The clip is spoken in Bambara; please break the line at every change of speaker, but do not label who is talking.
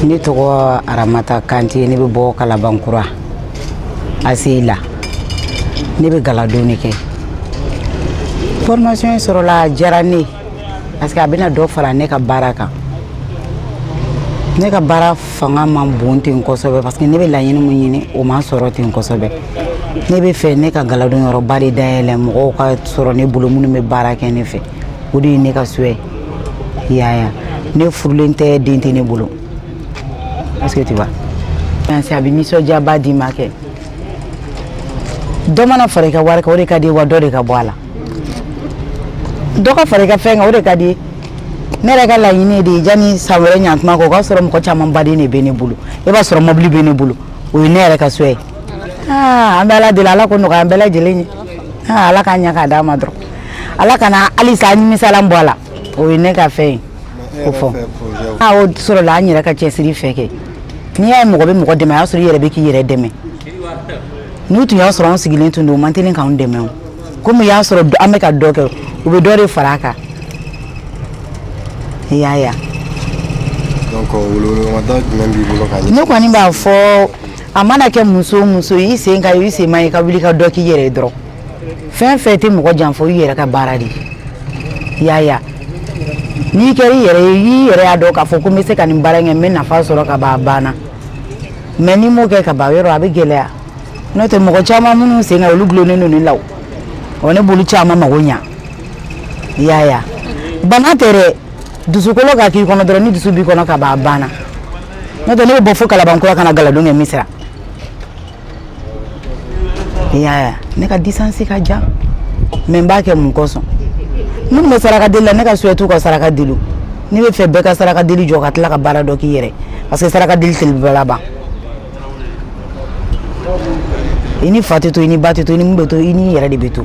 ne tɔgɔ aramata kante ne bɛ bɔ kalabankura aseyi la ne bɛ galadon de kɛ formation sɔrɔla a diyara ne parce que a bɛna dɔ fara ne ka baara kan ne ka baara fanga man bon ten kosɛbɛ parce que ne bɛ laɲini min ɲini o ma sɔrɔ ten kosɛbɛ ne bɛ fɛ ne ka galadon yɔrɔba de dayɛlɛ mɔgɔw ka sɔrɔ ne bolo minnu bɛ baara kɛ ne fɛ o de ye ne ka souhait ye i y'a ye ne furulen tɛ den tɛ ne bolo est-ce que tu vois yansi a bɛ nisɔndiyaba d'i ma kɛ dɔ mana fara i ka wari kan o de ka d'i ye wa dɔ de ka bɔ a la dɔ ka fara i ka fɛn kan o de ka d'i ye ne yɛrɛ ka laɲini de ye yanni san wɛrɛ ɲantuma kɔ o k'a sɔrɔ mɔgɔ camanba de bɛ ne bolo i b'a sɔrɔ mɔbili bɛ ne bolo o ye ne yɛrɛ ka souhait ye aa an bɛ ala deli ala k'o nɔgɔya an bɛɛ lajɛlen ye aa ala k'a ɲɛ k'a d'an ma dɔrɔn ala kana halisa nimisalan bɔ a la o ye ne ka fɛn ye ko fɔ a o sɔrɔla an yɛrɛ ka cɛsiri fɛ kɛ n'i y'a ye mɔgɔ bɛ mɔgɔ dɛmɛ a y'a sɔrɔ i yɛrɛ bɛ k'i yɛrɛ dɛmɛ n'u tun y'a sɔrɔ an sigilen tun don u man teli k'anw dɛmɛ komi u y'a sɔrɔ an bɛ ka dɔ kɛ u bɛ dɔ de fara a kan i y'a ye ne kɔni b'a fɔ a mana kɛ muso muso i sen ka i sen ma ye ka wuli ka dɔ k'i yɛrɛ ye dɔrɔn fɛn fɛn tɛ mɔgɔ janfa i yɛrɛ ka baara de ye i y'a ye n'i kɛra i yɛrɛ ye i yɛrɛ y'a dɔn k'a fɔ ko n bɛ se ka nin baara in kɛ n bɛ nafa sɔrɔ ka ban a banna mais n'i m'o kɛ ka ban yɔrɔ a bɛ gɛlɛya n'o tɛ mɔgɔ caman minnu sen ka olu dulonnen don ne la o ne b'olu caman mago ɲa i y'a ye bana tɛ dɛ dusukolo ka k'i kɔnɔ dɔrɔn ni dusu b'i kɔnɔ ka ban a banna n'o tɛ ne bɛ bɔ fo kalabankura ka na galadon kɛ misira i y'a ye ne ka distance ka jan mais n b'a kɛ mun kosɔn minnu bɛ saraka deli la ne ka souhait u ka saraka deli ne bɛ fɛ bɛɛ ka saraka deli jɔ ka tila ka baara dɔ k'i yɛrɛ parce que saraka deli delibaa laban i n'i fa tɛ to i n'i ba tɛ to i ni mun bɛ to i n'i yɛrɛ de bɛ to